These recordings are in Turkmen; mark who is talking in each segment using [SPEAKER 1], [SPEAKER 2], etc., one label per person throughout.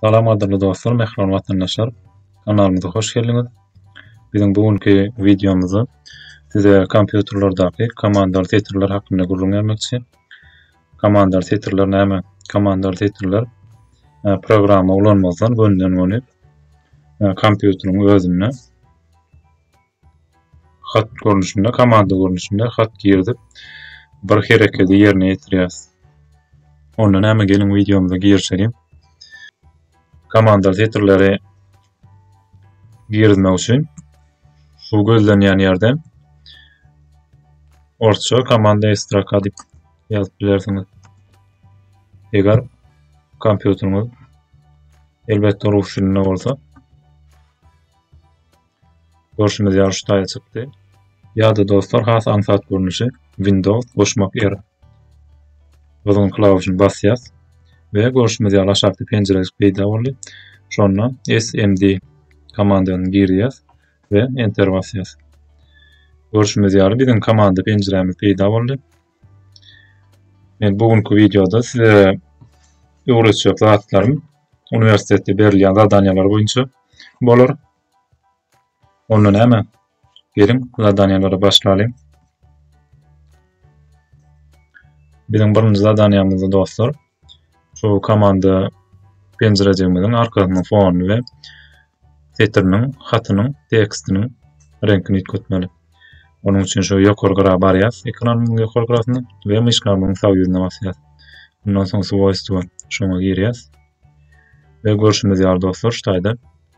[SPEAKER 1] Salam gadyrly dostlar, mähriban watandaşlar. Kanalymyza hoş geldiňiz. Biziň bu günki wideomyzda size kompýuterlerdäki komandar setirler hakynda gürrüň bermekçi. Komandar setirler näme? Komandar setirler e, programma ulanmazdan gönden göni e, kompýuteriň özünde Hat görnüşinde, komanda görnüşinde hat girdip, bir hereketi ýerine ýetirýäs. Onda näme geliň wideomyza girişeliň. Komanda setirleri girizmek üçin şu gözlenýän ýerden orçça komanda estraka diýip ýazyp bilersiňiz. Eger kompýuteriňiz elbetde rus dilinde bolsa Görşümiz ýaly şu taýa çykdy. Ýa-da dostlar has aňsat görnüşi Windows goşmak R. Gyzgyn klawişini basýas we görşümiz ýaly aşakda penjirejik peýda boldy. Şonda SMD komandany girýäs we enter basýas. Görşümiz ýaly biziň komanda penjirämiz peýda boldy. Men bu günki wideoda size öwretjek zatlarym uniwersitetde berilýän zadaniýalar boýunça bolar. Onda näme? Geliň, zadaniýelere başlalyň. Biziň birinji zadaniýamyzda dostlar, şu komanda penjirejigimiziň arkasynyň fonuny we setiriniň, hatynyň, tekstiniň reňkini üýtgetmeli. Onuň üçin şu ýokary gyra barýas, ekranyň ýokary gyrasyna we myşkamyzyň sag ýüzüne basýas. Ondan soň swojstwa şoňa girýas. Ve görşümiz ýaly dostlar, şu taýda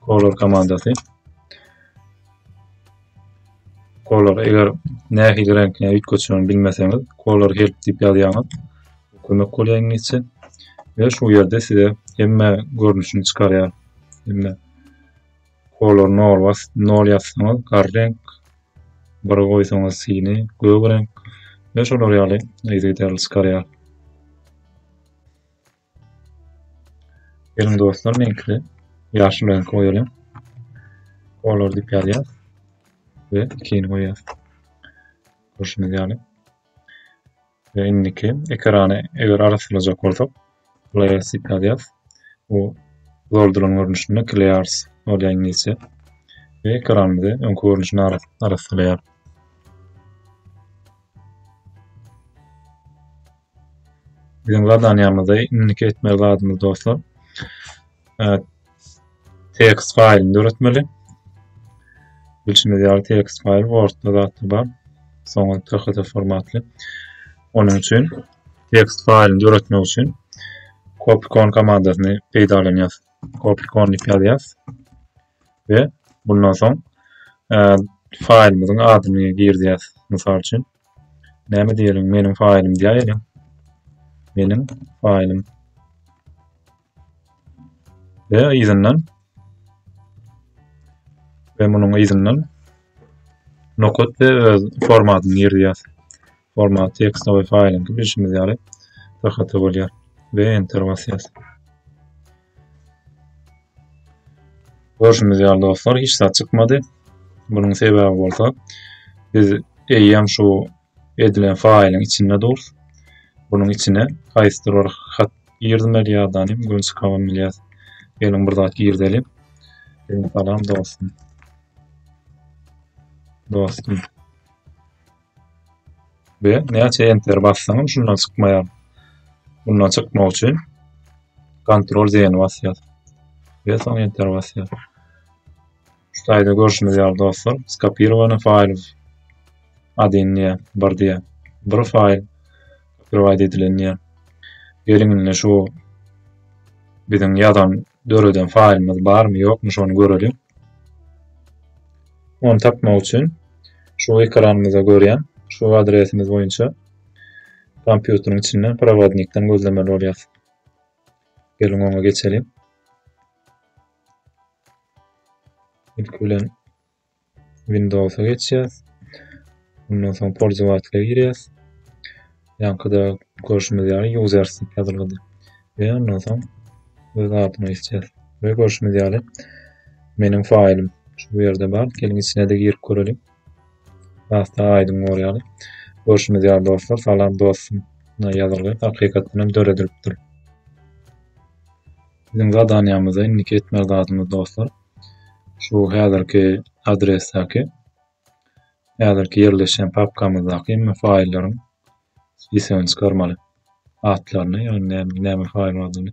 [SPEAKER 1] Color komandasy. Color eger nähili reňkine üýtgetişini bilmeseňiz, color help diýip ýazýaňyz. Kömek bolýar iňlisçe. Ve şu yerde size hemme görünüşini çıkarıyor. Hemme color nol was nol yazsanız gar renk bir koysanız sini gök renk ve şolar yalı izgiderli çıkarıyor. Geliň dostlar meňkide ýaşyl reňki goýalyň. Kolor dip ýazýas we ikini goýýas. Görşüňiz ýaly. Ve indiki ekrany eger arassalajak bolsak, layers dip ýazýas. Bu zordulan görnüşinde layers bolýar ingilisçe. Ve ekranymyzy öňki görnüşine arassalaýar. Biziň zadaniýamyzda indiki etmeli zadymyz dostlar. Text faýlyny döretmeli. Bilşimiz ýaly text faýl Word-da zatda bar. Soňra TXT formatly. Onuň üçin text faýlyny döretmek üçin copycon komandasyny peýdalanýarys. Copycon diýip ýazýarys. We bundan soň faýlymyzyň adyny girdýäs. Mysal üçin Näme diýeliň, meniň faýlym diýäýeliň. Meniň faýlym. Ve yzyndan ve munuň yzyndan nokat ve öz formatyny girýär. Format tekstine we faýlyňky bilşimiz ýaly bir hata bolýar ve enter basýar. Görşüňiz ýaly dostlar, hiç zat çykmady. Bunuň sebäbi bolsa, biz eýýäm şu edilen faýlyň içinde durus. Bunuň içine haýsydyr bir hat girdimeli ýadan hem gün çykaman bilýäs. Geliň bir zat girdelim. Salam dostum. Dostum. we näçe enter bassaňam şundan çykmaýar. Bundan çykmak üçin kontrol zeni basýar. Ve soň enter basýar. Şu taýda görüşimiz ýaly dostlar, skopirowany faýl adyn diýä, bir diýä. Bir faýl prowaýd edilen diýä. Geliň indi şu biziň ýazan döreden faýlymyz barmy ýokmy şony göreliň. Ony tapmak üçin şu ekranymyzda görýän şu adresimiz boýunça kompýuteriň içinden prowodnikden gözlemeli bolýar. Geliň oňa geçeliň. Ilki bilen Windows'a geçýäs. Ondan soň polzowatlere girýäs. Ýankyda görşümiz ýaly users diýip ýazylgydy. We ondan soň öz adyna geçýäs. We görşümiz ýaly meniň faýlym şu ýerde bar. Geliň içine-de girip göreliň. Hasda aýdyň bor ýaly. Görşümiz ýaly dostlar, salam dostum ýazylgy hakykatdan hem döredilipdir. Biziň zadaniýamyzda indiki etmeli zadymyz dostlar. şu häzirki adresdäki häzirki ýerleşýän papkamyzdaky hemme faýllaryň spisigini çykarmaly. Atlaryny, ýagny näme näme faýl bardygyny.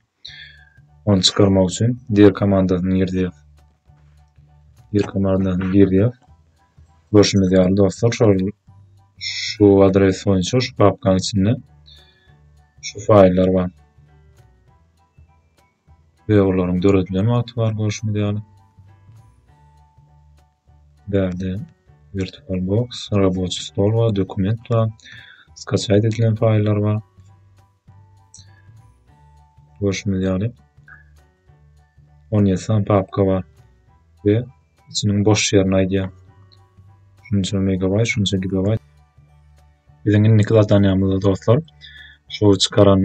[SPEAKER 1] Ony çykarmak üçin dir komandasyny girýär. Dir komandasyny girýär. Görşümiz ýaly dostlar, şol şu adres boýunça şu papkanyň içinde şu faýllar bar. we olaryň döredilen wagty bar görşümiz ýaly. Bärde virtual box, raboçi stol bar, dokument bar, skaçaýt edilen faýllar bar. Görşümiz ýaly. On ýesan papka bar we içiniň boş ýerini aýdýar. Şunça megabaýt, şunça gigabaýt. Biziň indiki zadanýamyzda dostlar, şu çykaran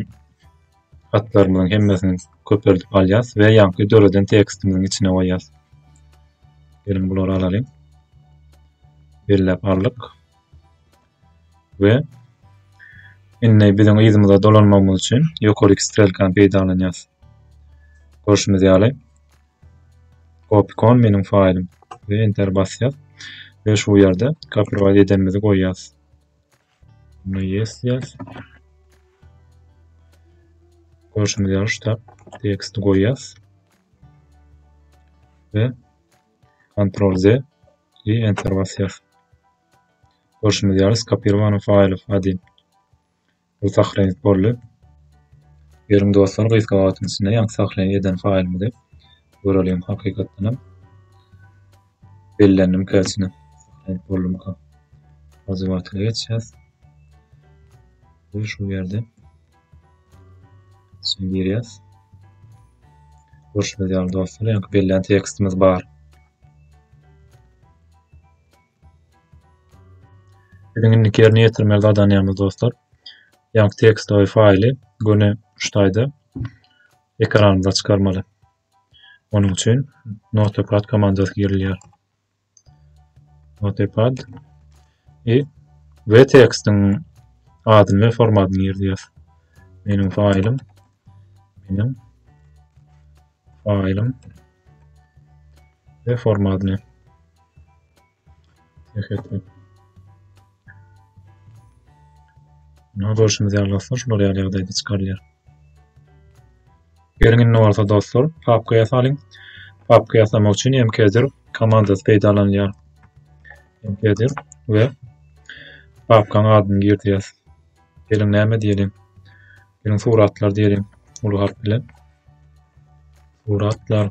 [SPEAKER 1] Hatlarymyzyň hemmesini köpeldip alýas we ýaňky döreden tekstimiziň içine goýýas. Geliň bulary alalyň. Belläp aldyk. We indi biziň yzymyza dolanmagymyz üçin ýokary iki strelkany peýdalanýas. Görşümiz ýaly Opikon meniň faýlym we enter basýas we şu ýerde copyright edenimizi goýýas. Buna yes ýaz. Görşüňiz ýaly şu teksti goýýas. Ve Ctrl Z i Enter basyas. Görşüňiz ýaly skopirowany faýly adin. Bu sahrenit boldy. Ýeriň dostlar gysga wagtyň içinde ýaňky sahrenit eden faýlymyzy görelim hakykatdan hem. Bellendim käsini. Aýt boldumyka. Wazywatyna geçýäs. Bu şu ýerde. Sen girýäs. Görşüňiz ýaly dostlar, ýaňky bellän tekstimiz bar. Biziň indi ýerine ýetirmeli zadanýamyz dostlar. Ýaňky tekstowy faýly göni şu taýda ekranymyza çykarmaly. Onuň üçin notepad komandasy girilýär. Notepad i we tekstiň adyny we formatyny girýäs. Meniň faýlym meniň faýlym we formatyny Hehe. Buna görüşimiz ýaly dostlar, şular ýaly ýagdaýda çykarylýar. Geliň indi bolsa dostlar, papka ýasalyň. Papka ýasamak üçin MKdir komandasy peýdalanylýar. MKdir we papkaň adyny girýäs. Geliň näme diýelim? Geliň suratlar diýelim uly harp bilen. Suratlar.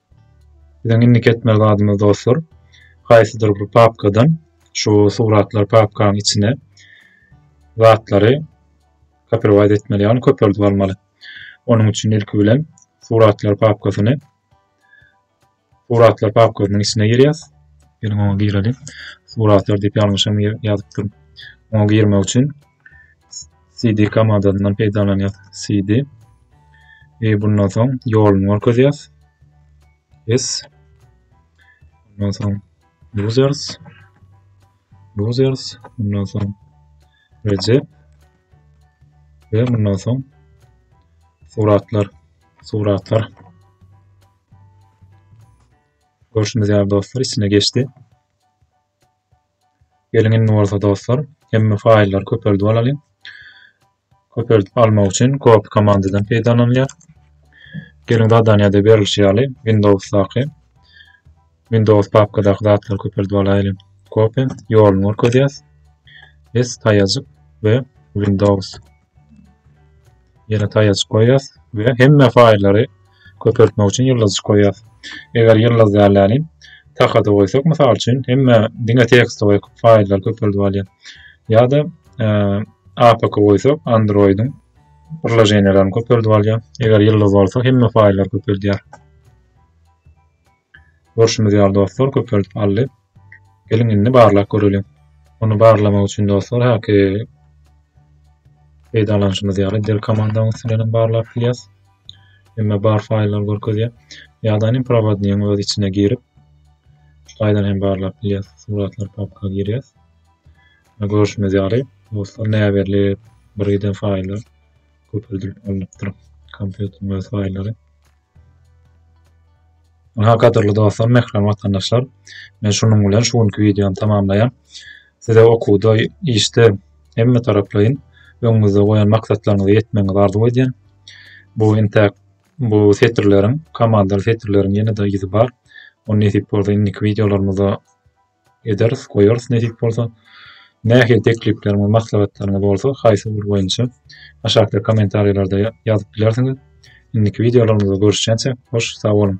[SPEAKER 1] Biziň indiki etmeli zadymyz dostlar, haýsydyr bir papkadan şu suratlar papkanyň içine zatlary kopirwaýt etmeli, ýagny köpeldip almaly. Onuň üçin ilki bilen suratlar papkasyny suratlar papkasynyň içine girýäs. Geliň oňa girelim. Suratlar diýip ýalňyşam ýazypdyryn. Oňa girmek üçin CD komandasyndan peýdalanýas. CD we bundan soň ýoluny görkezýäs. Yes. Bundan soň users users bundan soň Recep we bundan soň suratlar suratlar görşümiz ýaly dostlar içine geçdi. Geliň indi bolsa dostlar, hemme faýllary köpeldip alalyň. Köpeldip almak üçin copy komandadan peýdalanylýar. Geliň zadaniýada berilişi ýaly Windowsdaky Windows papkadaky zatlary köpeldip alaýlyň. Copy ýoluny görkezýäs. Biz taýajyk we Windows Ýene taýajyk goýýas we hemme faýllary köpeltmek üçin ýyldyz goýýas. Eger ýyldyz dälläni takada goýsak, mysal üçin, hemme diňe tekst goýup faýllary köpeldip alýar. Ýa-da e, APK goýsak, Android-iň birleşenelerini köpeldip alýar. Eger ýyldyz bolsa, hemme faýllary köpeldýär. Görşümiz ýaly dostlar köpeldip aldy. Geliň indi barlap göreliň. Ony barlamak üçin dostlar häki peýdalanyşymyz ýaly dir komandanyň üstünden hem barlap bilýäs. Emma bar faýllar görkezýär. Ýa-da hem prowodniýiň öz içine girip şaýdan hem barlap bilýäs. Suratlar papka girýäs. Görşümiz ýaly dostlar näberli birden faýllar köpeldilip alnypdyr. Kompýuteriň öz faýllary. Ynha gadyrly dostlar, mährem watandaşlar, men şunuň bilen şu günki wideony tamamlaýan. Size okuwda, işde hemme taraplaýyn öňüňizde goýan maksatlaryňyza ýetmegiňizi arzuw edýän. Bu intäk bu setirleriň, komandaly setirleriň ýene-de yzy bar. Ony nesip bolsa indiki wideolarymyzda ederis, goýarys nesip bolsa. Nähili teklipleriniz we maslahatlaryňyz bolsa haýsy ugur boýunça aşakda kommentariýalarda ýazyp bilersiňiz. Indiki wideolarymyzda görüşýänçä hoş sag boluň.